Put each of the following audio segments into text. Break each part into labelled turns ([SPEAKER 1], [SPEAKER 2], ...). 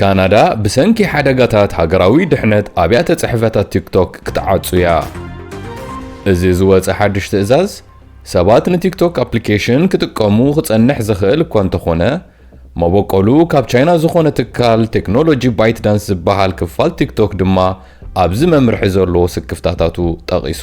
[SPEAKER 1] ካናዳ ብሰንኪ ሓደጋታት ሃገራዊ ድሕነት ኣብያተ ጽሕፈታት ቲክቶክ ክትዓጹ እያ። እዚ ዝወፀ ሓድሽ ትእዛዝ ሰባት ንቲክቶክ ኣፕሊኬሽን ክጥቀሙ ክጸንሕ ዝኽእል እኳ እንተኾነ መበቆሉ ካብ ቻይና ዝኾነ ትካል ቴክኖሎጂ ባይት ዳንስ ዝበሃል ክፋል ቲክቶክ ድማ ኣብዚ መምርሒ ዘሎ ስክፍታታቱ ጠቒሱ።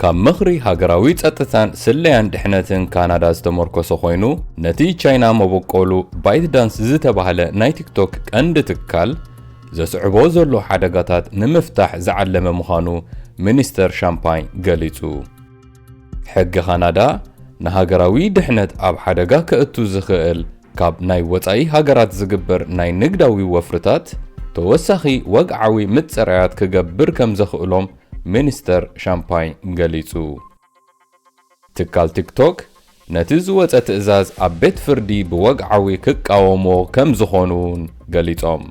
[SPEAKER 1] ካብ ምኽሪ ሃገራዊ ጸጥታን ስለያን ድሕነትን ካናዳ ዝተመርኮሰ ኮይኑ፣ ነቲ ቻይና መበቆሉ ByteDance ዝተባህለ ናይ ቲክቶክ ቀንዲ ትካል ዘስዕቦ ዘሎ ሓደጋታት ንምፍታሕ ዝዓለመ ምዃኑ ሚኒስተር ሻምፓኝ ገሊጹ። ሕጊ ካናዳ፣ ንሃገራዊ ድሕነት ኣብ ሓደጋ ከእቱ ዝኽእል ካብ ናይ ወጻኢ ሃገራት ዝግበር ናይ ንግዳዊ ወፍርታት ተወሳኺ ወግዓዊ ምጽራያት ክገብር ከም ዘኽእሎም ሚኒስተር ሻምፓኝ ገሊጹ። ትካል ቲክቶክ ነቲ ዝወጸ ትእዛዝ ኣብ ቤት ፍርዲ ብወግዓዊ ክቃወምዎ ከም ዝኾኑ'ውን ገሊጾም።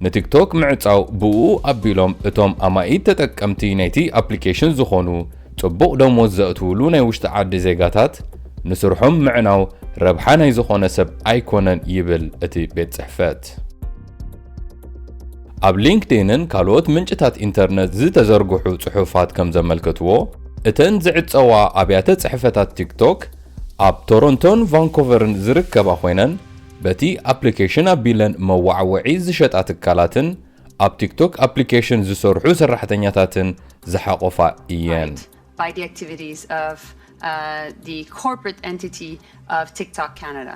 [SPEAKER 1] ንቲክቶክ ምዕጻው ብእኡ ኣቢሎም እቶም ኣማኢት ተጠቀምቲ ናይቲ ኣፕሊኬሽን ዝኾኑ ጽቡቕ ደሞዝ ዘእትውሉ ናይ ውሽጢ ዓዲ ዜጋታት ንስርሖም ምዕናው ረብሓ ናይ ዝኾነ ሰብ ኣይኮነን ይብል እቲ ቤት ጽሕፈት። ኣብ ሊንክዲንን ካልኦት ምንጭታት ኢንተርነት ዝተዘርግሑ ጽሑፋት ከም ዘመልከትዎ፣ እተን ዝዕጸዋ ኣብያተ ጽሕፈታት ቲክቶክ ኣብ ቶሮንቶን ቫንኮቨርን ዝርከባ ኮይነን፣ በቲ ኣፕሊኬሽን ኣቢለን መወዓውዒ ዝሸጣ ትካላትን ኣብ ቲክቶክ ኣፕሊኬሽን ዝሰርሑ ሰራሕተኛታትን ዝሓቖፋ እየን። by the
[SPEAKER 2] activities of the corporate entity of TikTok Canada.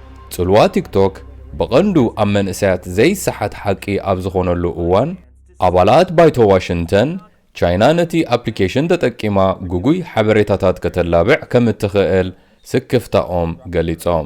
[SPEAKER 1] ጽልዋ ቲክቶክ ብቐንዱ ኣብ መንእሰያት ዘይሰሓት ሓቂ ኣብ ዝኾነሉ እዋን፣ ኣባላት ባይቶ ዋሽንተን፣ ቻይና ነቲ ኣፕሊኬሽን ተጠቂማ ግጉይ ሓበሬታታት ከተላብዕ ከም እትኽእል ስክፍታኦም
[SPEAKER 3] ገሊጾም።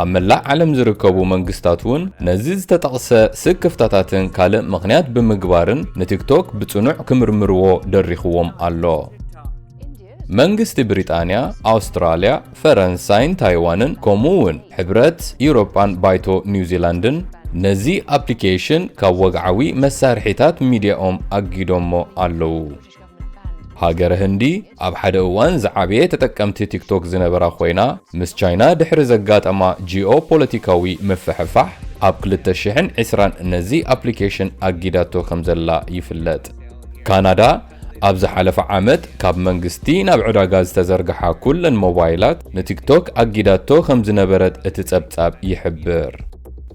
[SPEAKER 1] ኣብ መላእ ዓለም ዝርከቡ መንግስታት እውን ነዚ ዝተጠቕሰ ስክፍታታትን ካልእ ምኽንያት ብምግባርን ንቲክቶክ ብጽኑዕ ክምርምርዎ ደሪኽዎም ኣሎ። መንግስቲ ብሪጣንያ፣ ኣውስትራልያ፣ ፈረንሳይን ታይዋንን ከምኡ እውን ሕብረት ኢውሮጳን ባይቶ ኒውዚላንድን ነዚ ኣፕሊኬሽን ካብ ወግዓዊ መሳርሒታት ሚድያኦም ኣጊዶሞ ኣለዉ። ሃገረ ህንዲ ኣብ ሓደ እዋን ዝዓበየ ተጠቀምቲ ቲክቶክ ዝነበራ ኮይና ምስ ቻይና ድሕሪ ዘጋጠማ ጂኦ ፖለቲካዊ ምፍሕፋሕ ኣብ 2020 ነዚ ኣፕሊኬሽን ኣጊዳቶ ከም ዘላ ይፍለጥ። ካናዳ ኣብ ዝሓለፈ ዓመት ካብ መንግስቲ ናብ ዕዳጋ ዝተዘርግሓ ኩለን ሞባይላት ንቲክቶክ ኣጊዳቶ ከም ዝነበረት እቲ ጸብጻብ ይሕብር።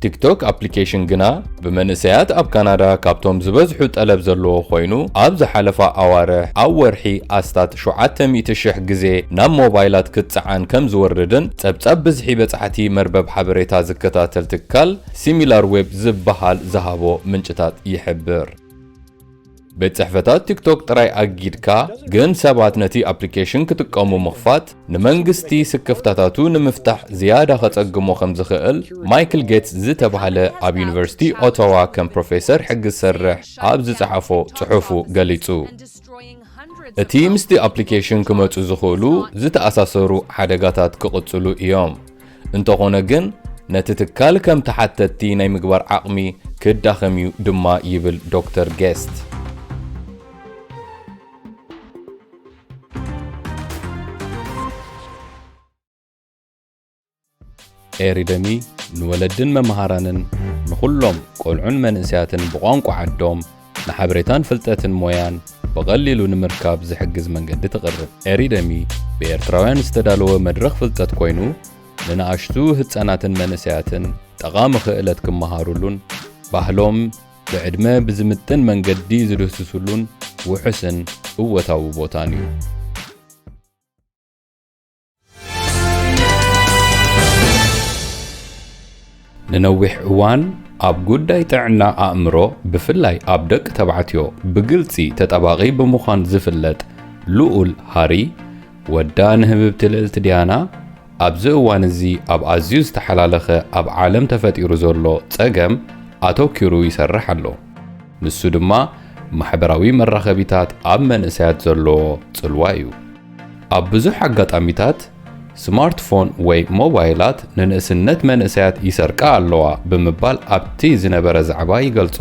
[SPEAKER 1] ቲክቶክ ኣፕሊኬሽን ግና ብመንእሰያት ኣብ ካናዳ ካብቶም ዝበዝሑ ጠለብ ዘለዎ ኮይኑ ኣብ ዝሓለፋ ኣዋርሕ ኣብ ወርሒ ኣስታት ሸውዓተ ሚእቲ ሽሕ ግዜ ናብ ሞባይላት ክትጸዓን ከም ዝወርድን ጸብጻብ ብዝሒ በጻሕቲ መርበብ ሓበሬታ ዝከታተል ትካል ሲሚላርዌብ ዝበሃል ዝሃቦ ምንጭታት ይሕብር። ቤት ጽሕፈታት ቲክቶክ ጥራይ ኣጊድካ ግን ሰባት ነቲ ኣፕሊኬሽን ክጥቀሙ ምኽፋት ንመንግስቲ ስክፍታታቱ ንምፍታሕ ዝያዳ ከጸግሞ ከም ዝኽእል ማይክል ጌትስ ዝተባህለ ኣብ ዩኒቨርሲቲ ኦታዋ ከም ፕሮፌሰር ሕጊ ዝሰርሕ ኣብ ዝጸሓፎ ጽሑፉ ገሊጹ። እቲ ምስቲ ኣፕሊኬሽን ክመጹ ዝኽእሉ ዝተኣሳሰሩ ሓደጋታት ክቕጽሉ እዮም። እንተኾነ ግን ነቲ ትካል ከም ተሓተትቲ ናይ ምግባር ዓቕሚ ክዳኸም እዩ ድማ ይብል ዶክተር ጌስት። ኤሪደሚ ንወለድን መምሃራንን ንኹሎም ቆልዑን መንእሰያትን ብቋንቋ ዓዶም ንሓበሬታን ፍልጠትን ሞያን ብቐሊሉ ንምርካብ ዝሕግዝ መንገዲ ተቕርብ። ኤሪደሚ ብኤርትራውያን ዝተዳለወ መድረኽ ፍልጠት ኮይኑ፣ ንንኣሽቱ ህጻናትን መንእሰያትን ጠቓሚ ክእለት ክመሃሩሉን ባህሎም ብዕድመ ብዝምጥን መንገዲ ዝድህስሱሉን ውሑስን እወታዊ ቦታን እዩ። ንነዊሕ እዋን ኣብ ጉዳይ ጥዕና ኣእምሮ ብፍላይ ኣብ ደቂ ተባዕትዮ ብግልፂ ተጠባቒ ብምዃን ዝፍለጥ ልኡል ሃሪ ወዳ ንህብብቲ ልዕልቲ ዲያና ኣብዚ እዋን እዚ ኣብ ኣዝዩ ዝተሓላለኸ ኣብ ዓለም ተፈጢሩ ዘሎ ጸገም ኣተኪሩ ይሰርሕ ኣሎ። ንሱ ድማ ማሕበራዊ መራኸቢታት ኣብ መንእሰያት ዘለዎ ጽልዋ እዩ። ኣብ ብዙሕ ኣጋጣሚታት ስማርትፎን ወይ ሞባይላት ንንእስነት መንእሰያት ይሰርቃ ኣለዋ ብምባል ኣብቲ ዝነበረ ዛዕባ ይገልጾ።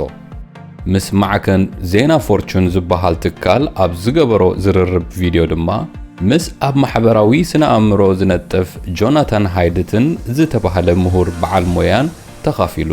[SPEAKER 1] ምስ ማዕከን ዜና ፎርቹን ዝበሃል ትካል ኣብ ዝገበሮ ዝርርብ ቪድዮ ድማ፣ ምስ ኣብ ማሕበራዊ ስነ-ኣእምሮ ዝነጥፍ ጆናታን ሃይድትን ዝተባህለ ምሁር በዓል ሞያን ተኻፊሉ።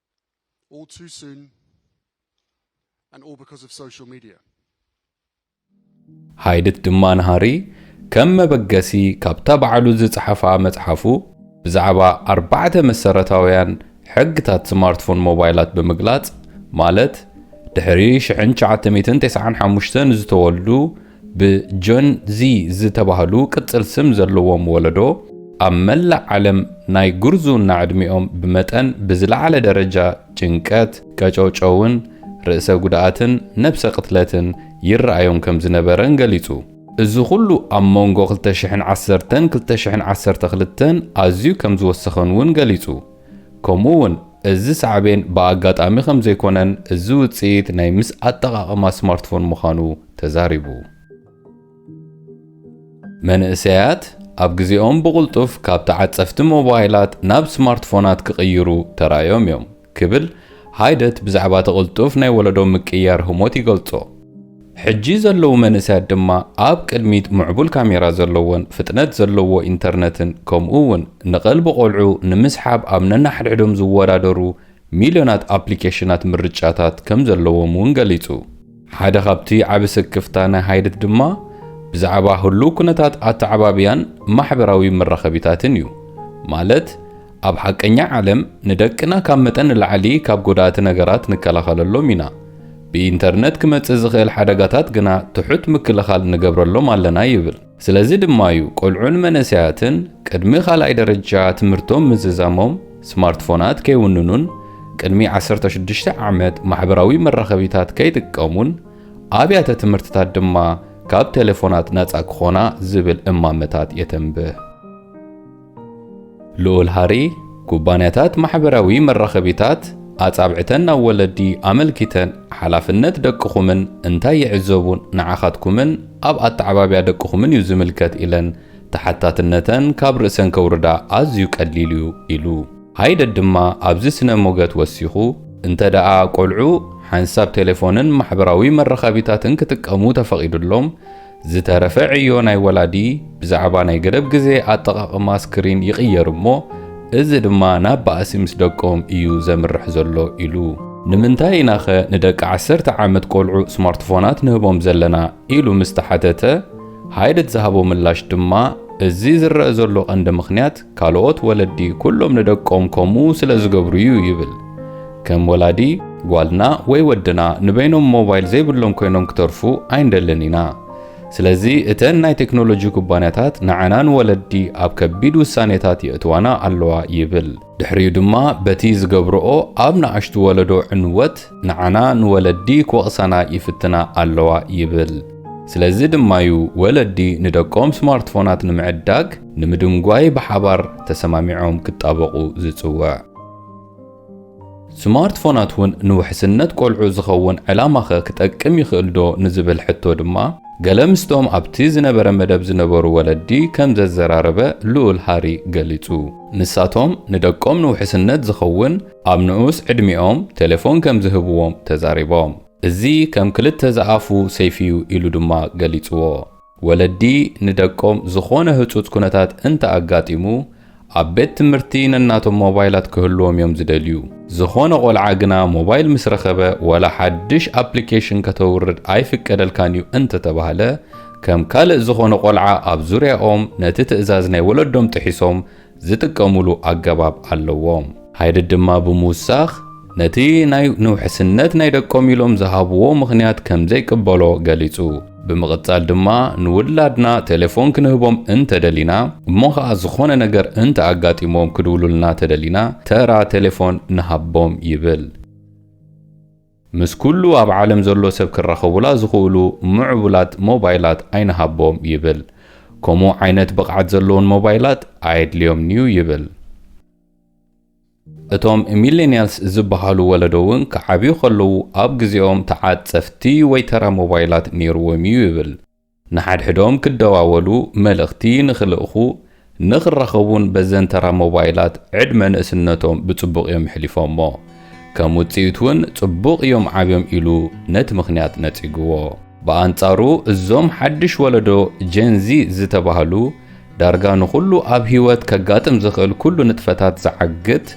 [SPEAKER 4] all too soon and all because of social media.
[SPEAKER 1] ሃይድት ድማ ንሃሪ ከም መበገሲ ካብታ ባዕሉ ዝጸሓፋ መጽሓፉ ብዛዕባ ኣርባዕተ መሰረታውያን ሕግታት ስማርትፎን ሞባይላት ብምግላጽ ማለት ድሕሪ ሽሕን ትሽዓተ ሚእትን ተስዓን ሓሙሽተን ዝተወልዱ ብጆን ዚ ዝተባህሉ ቅጽል ስም ዘለዎም ወለዶ፣ ኣብ መላእ ዓለም ናይ ጉርዝውና ዕድሜኦም ብመጠን ብዝለዓለ ደረጃ ጭንቀት፣ ቀጨውጨውን ርእሰ ጉድኣትን ነብሰ ቅትለትን ይረኣዮም ከም ዝነበረን ገሊጹ። እዚ ኹሉ ኣብ መንጎ ክልተ ሽሕን ዓሰርተን ክልተ ሽሕን ዓሰርተ ክልተን ኣዝዩ ከም ዝወሰኸን'ውን ገሊጹ። ከምኡ እውን እዚ ሳዕቤን ብኣጋጣሚ ከምዘይኮነን እዚ ውፅኢት ናይ ምስ ኣጠቓቕማ ስማርትፎን ምዃኑ ተዛሪቡ። መንእሰያት ኣብ ግዜኦም ብቕልጡፍ ካብ ተዓፀፍቲ ሞባይላት ናብ ስማርትፎናት ክቕይሩ ተራእዮም እዮም ክብል ሃይደት ብዛዕባ እቲ ቅልጡፍ ናይ ወለዶ ምቅይያር ህሞት ይገልፆ። ሕጂ ዘለዉ መንእሰያት ድማ ኣብ ቅድሚት ምዕቡል ካሜራ ዘለዎን ፍጥነት ዘለዎ ኢንተርነትን ከምኡ'ውን ንቐልቢ ቆልዑ ንምስሓብ ኣብ ነንሓድሕዶም ዝወዳደሩ ሚልዮናት ኣፕሊኬሽናት ምርጫታት ከምዘለዎም'ውን ገሊጹ። ሓደ ካብቲ ዓቢ ስክፍታ ናይ ሃይድት ድማ ብዛዕባ ህሉው ኩነታት ኣተዓባብያን ማሕበራዊ መራኸቢታትን እዩ። ማለት ኣብ ሓቀኛ ዓለም ንደቅና ካብ መጠን ንላዕሊ ካብ ጎዳእቲ ነገራት ንከላኸለሎም ኢና። ብኢንተርነት ክመጽእ ዝኽእል ሓደጋታት ግና ትሑት ምክልኻል ንገብረሎም ኣለና ይብል። ስለዚ ድማ'ዩ ቈልዑን መንእሰያትን ቅድሚ ካልኣይ ደረጃ ትምህርቶም ምዝዛሞም ስማርትፎናት ከይውንኑን ቅድሚ ዓሰርተ ሽዱሽተ ዓመት ማሕበራዊ መራኸቢታት ከይጥቀሙን ኣብያተ ትምህርትታት ድማ ካብ ቴሌፎናት ናጻ ክዀና ዝብል እማመታት የተንብህ። ልኡል ሃሪ፣ ኩባንያታት ማሕበራዊ መራኸቢታት ኣጻብዕተን ናብ ወለዲ ኣመልኪተን ሓላፍነት ደቅኹምን እንታይ ይዕዘቡ ንዓኻትኩምን ኣብ ኣተዓባብያ ደቅኹምን እዩ ዝምልከት ኢለን ተሓታትነተን ካብ ርእሰን ከውርዳ ኣዝዩ ቀሊል እዩ ኢሉ። ሃይደድ ድማ ኣብዚ ስነ ሞገት ወሲኹ፣ እንተደኣ ቆልዑ ሓንሳብ ቴሌፎንን ማሕበራዊ መራኸቢታትን ክጥቀሙ ተፈቒዱሎም፣ ዝተረፈ ዕዮ ናይ ወላዲ ብዛዕባ ናይ ገደብ ግዜ ኣጠቓቕማ ስክሪን ይቕየር እሞ እዚ ድማ ናብ ባእሲ ምስ ደቆም እዩ ዘምርሕ ዘሎ ኢሉ። ንምንታይ ኢና'ኸ ንደቂ ዓሰርተ ዓመት ቆልዑ ስማርትፎናት ንህቦም ዘለና ኢሉ ምስ ተሓተተ፣ ሃይደት ዝሃቦ ምላሽ ድማ እዚ ዝረኣ ዘሎ ቀንዲ ምኽንያት፣ ካልኦት ወለዲ ኩሎም ንደቆም ከምኡ ስለ ዝገብሩ እዩ ይብል። ከም ወላዲ፣ ጓልና ወይ ወድና ንበይኖም ሞባይል ዘይብሎም ኮይኖም ክተርፉ ኣይንደልን ኢና። ስለዚ እተን ናይ ቴክኖሎጂ ኩባንያታት ንዓና ንወለዲ ኣብ ከቢድ ውሳኔታት የእትዋና ኣለዋ ይብል። ድሕሪኡ ድማ በቲ ዝገብርኦ ኣብ ንኣሽቱ ወለዶ ዕንወት ንዓና ንወለዲ ክወቕሳና ይፍትና ኣለዋ ይብል። ስለዚ ድማ'ዩ ወለዲ ንደቆም ስማርትፎናት ንምዕዳግ ንምድንጓይ ብሓባር ተሰማሚዖም ክጣበቑ ዝጽውዕ። ስማርትፎናት ውን ንውሕስነት ቆልዑ ዝኸውን ዕላማኸ ክጠቅም ይኽእልዶ ንዝብል ሕቶ ድማ ገለ ምስቶም ኣብቲ ዝነበረ መደብ ዝነበሩ ወለዲ ከም ዘዘራረበ ልኡል ሃሪ ገሊጹ። ንሳቶም ንደቆም ንውሕስነት ዝኸውን ኣብ ንኡስ ዕድሚኦም ቴሌፎን ከም ዝህብዎም ተዛሪቦም። እዚ ከም ክልተ ዝኣፉ ሰይፊ'ዩ ኢሉ ድማ ገሊጽዎ። ወለዲ ንደቆም ዝኾነ ህጹጽ ኩነታት እንተ ኣጋጢሙ፣ ኣብ ቤት ትምህርቲ ነናቶም ሞባይላት ክህልዎም እዮም ዝደልዩ። ዝኾነ ቆልዓ ግና ሞባይል ምስ ረኸበ ዋላ ሓድሽ ኣፕሊኬሽን ከተውርድ ኣይፍቀደልካን እዩ እንተ ተባህለ፣ ከም ካልእ ዝኾነ ቆልዓ ኣብ ዙርያኦም ነቲ ትእዛዝ ናይ ወለዶም ጥሒሶም ዝጥቀሙሉ ኣገባብ ኣለዎም። ሃይድድ ድማ ብምውሳኽ፣ ነቲ ናይ ንውሕስነት ናይ ደቆም ኢሎም ዝሃብዎ ምኽንያት ከም ዘይቅበሎ ገሊጹ። ብምቕጻል ድማ፣ ንውላድና ቴሌፎን ክንህቦም እንተ ደሊና፣ እሞ ኸኣ ዝኾነ ነገር እንተ ኣጋጢምዎም ክድውሉልና ተደሊና፣ ተራ ቴሌፎን ንሃቦም ይብል። ምስ ኩሉ ኣብ ዓለም ዘሎ ሰብ ክራኸቡላ ዝኽእሉ ምዕቡላት ሞባይላት ኣይንሃቦም ይብል። ከምኡ ዓይነት ብቕዓት ዘለወን ሞባይላት ኣየድልዮምን'ዩ ይብል። እቶም ሚሌንያልስ ዝበሃሉ ወለዶ'ውን ክዓብዩ ከለዉ ኣብ ግዜኦም ተዓጸፍቲ ወይ ተራ ሞባይላት ነይሩዎም'ዩ ይብል። ንሓድሕዶም ክደዋወሉ፣ መልእኽቲ ንኽልእኹ፣ ንኽራኸቡን በዘን ተራ ሞባይላት ዕድመ ንእስነቶም ብጽቡቕ እዮም ኣሕሊፎሞ። ከም ውጽኢት እውን ጽቡቕ እዮም ዓብዮም ኢሉ ነቲ ምኽንያት ነጺግዎ። ብኣንጻሩ እዞም ሓድሽ ወለዶ፣ ጀን ዚ ዝተባህሉ፣ ዳርጋ ንኹሉ ኣብ ህይወት ከጋጥም ዝኽእል ኩሉ ንጥፈታት ዝዓግት፣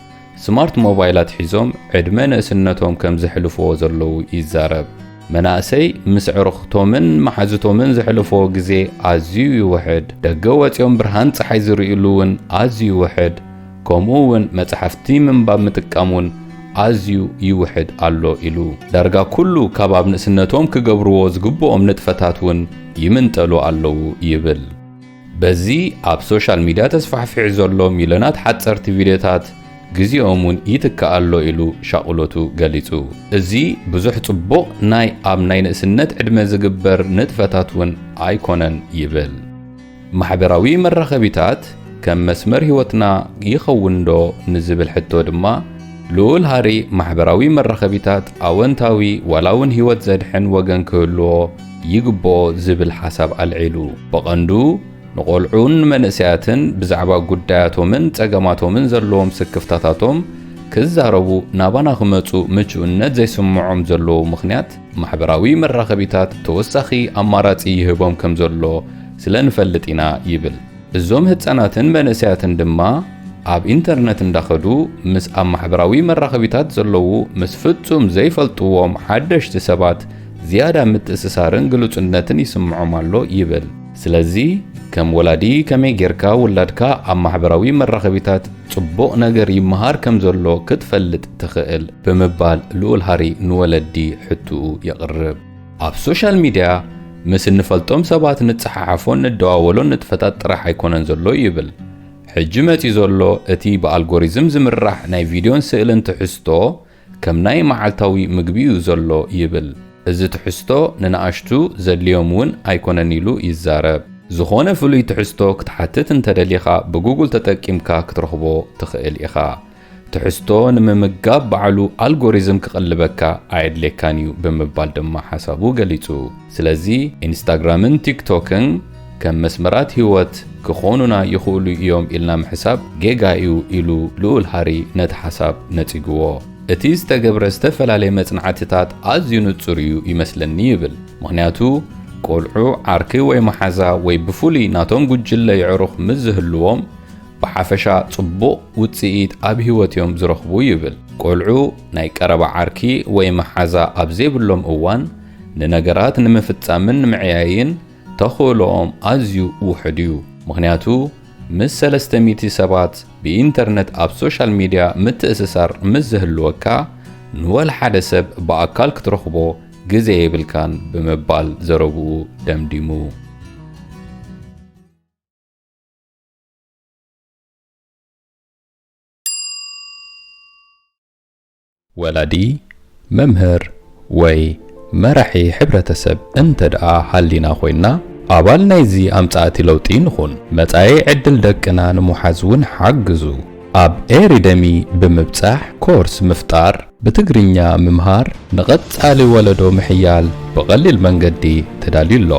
[SPEAKER 1] ስማርት ሞባይላት ሒዞም ዕድመ ንእስነቶም ከም ዘሕልፍዎ ዘለዉ ይዛረብ። መናእሰይ ምስ ኣዕሩኽቶምን መሓዙቶምን ዘሕልፍዎ ግዜ ኣዝዩ ይውሕድ፣ ደገ ወጺኦም ብርሃን ጸሓይ ዝርእዩሉ እውን ኣዝዩ ይውሕድ፣ ከምኡ እውን መጻሕፍቲ ምንባብ ምጥቃም እውን ኣዝዩ ይውሕድ ኣሎ ኢሉ። ዳርጋ ኩሉ ካብ ኣብ ንእስነቶም ክገብርዎ ዝግብኦም ንጥፈታት እውን ይምንጠሉ ኣለዉ ይብል። በዚ ኣብ ሶሻል ሚድያ ተስፋሕፊሑ ዘሎ ሚልዮናት ሓጸርቲ ቪድዮታት ግዜኦም እውን ይትክእ ኣሎ ኢሉ ሻቕሎቱ ገሊጹ። እዚ ብዙሕ ጽቡቕ ናይ ኣብ ናይ ንእስነት ዕድመ ዝግበር ንጥፈታት እውን ኣይኮነን ይብል። ማሕበራዊ መራኸቢታት ከም መስመር ህይወትና ይኸውንዶ ንዝብል ሕቶ ድማ ልኡል ሃሪ ማሕበራዊ መራኸቢታት ኣወንታዊ ዋላ እውን ህይወት ዘድሕን ወገን ክህልዎ ይግብኦ ዝብል ሓሳብ ኣልዒሉ። ብቐንዱ ንቆልዑን ንመንእሰያትን ብዛዕባ ጉዳያቶምን ጸገማቶምን ዘለዎም ስክፍታታቶም ክዛረቡ ናባና ክመጹ ምቹእነት ዘይስምዖም ዘለዉ ምኽንያት ማሕበራዊ መራኸቢታት ተወሳኺ ኣማራጺ ይህቦም ከም ዘሎ ስለ ንፈልጥ ኢና ይብል። እዞም ህጻናትን መንእሰያትን ድማ ኣብ ኢንተርነት እንዳኸዱ ምስ ኣብ ማሕበራዊ መራኸቢታት ዘለዉ ምስ ፍጹም ዘይፈልጥዎም ሓደሽቲ ሰባት ዝያዳ ምትእስሳርን ግሉጽነትን ይስምዖም ኣሎ ይብል። ስለዚ ከም ወላዲ ከመይ ጌርካ ውላድካ ኣብ ማሕበራዊ መራኸቢታት ጽቡቕ ነገር ይመሃር ከም ዘሎ ክትፈልጥ ትኽእል? ብምባል ልኡል ሃሪ ንወለዲ ሕትኡ የቕርብ። ኣብ ሶሻል ሚድያ ምስ እንፈልጦም ሰባት ንጸሓሓፎን ንደዋወሎን ንጥፈታት ጥራሕ ኣይኮነን ዘሎ ይብል። ሕጂ መጺኡ ዘሎ እቲ ብኣልጎሪዝም ዝምራሕ ናይ ቪድዮን ስእልን ትሕዝቶ፣ ከም ናይ መዓልታዊ ምግቢ'ዩ ዘሎ ይብል። እዚ ትሕዝቶ ንነኣሽቱ ዘድልዮም እውን ኣይኮነን ኢሉ ይዛረብ። ዝኾነ ፍሉይ ትሕዝቶ ክትሓትት እንተደሊኻ ብጉጉል ተጠቂምካ ክትረኽቦ ትኽእል ኢኻ። ትሕዝቶ ንምምጋብ ባዕሉ ኣልጎሪዝም ክቕልበካ ኣየድልየካን'ዩ ብምባል ድማ ሓሳቡ ገሊጹ። ስለዚ ኢንስታግራምን ቲክቶክን፣ ከም መስመራት ህይወት ክኾኑና ይኽእሉ እዮም ኢልና ምሕሳብ ጌጋ እዩ ኢሉ ልኡል ሃሪ ነቲ ሓሳብ ነጺግዎ። እቲ ዝተገብረ ዝተፈላለየ መጽናዕትታት ኣዝዩ ንጹር እዩ ይመስለኒ ይብል፣ ምኽንያቱ ቈልዑ ዓርኪ ወይ መሓዛ ወይ ብፍሉይ ናቶም ጕጅለ የዕሩኽ ምስ ዝህልዎም ብሓፈሻ ጽቡቕ ውጽኢት ኣብ ህይወት እዮም ዝረኽቡ ይብል። ቈልዑ ናይ ቀረባ ዓርኪ ወይ መሓዛ ኣብ ዘይብሎም እዋን ንነገራት ንምፍጻምን ንምዕያይን ተኽእሎኦም ኣዝዩ ውሑድ እዩ፣ ምኽንያቱ ምስ ሰለስተ ሚእቲ ሰባት ብኢንተርነት ኣብ ሶሻል ሚድያ ምትእስሳር ምስ ዝህልወካ ንወላ ሓደ ሰብ ብኣካል ክትረኽቦ ግዜ የብልካን ብምባል ዘረብኡ ደምዲሙ። ወላዲ፣ መምህር ወይ መራሒ ሕብረተሰብ እንተድኣ ሃሊና ኮይንና ኣባል ናይዚ ኣምጻእቲ ለውጢ ንኹን። መጻኢ ዕድል ደቅና ንምውሓዝ ውን ሓግዙ። ኣብ ኤሪደሚ ብምብጻሕ ኮርስ ምፍጣር፣ ብትግርኛ ምምሃር፣ ንቐጻሊ ወለዶ ምሕያል ብቐሊል መንገዲ ተዳልዩ ኣሎ።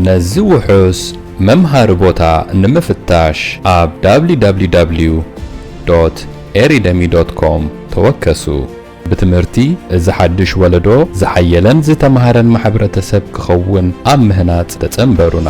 [SPEAKER 1] ነዚ ውሑስ መምሃሪ ቦታ ንምፍታሽ ኣብ www.eridemi.com ተወከሱ። ብትምህርቲ እዚ ሓድሽ ወለዶ ዝሓየለን ዝተማህረን ማሕብረተሰብ ክኸውን ኣብ ምህናጽ ተጸንበሩና።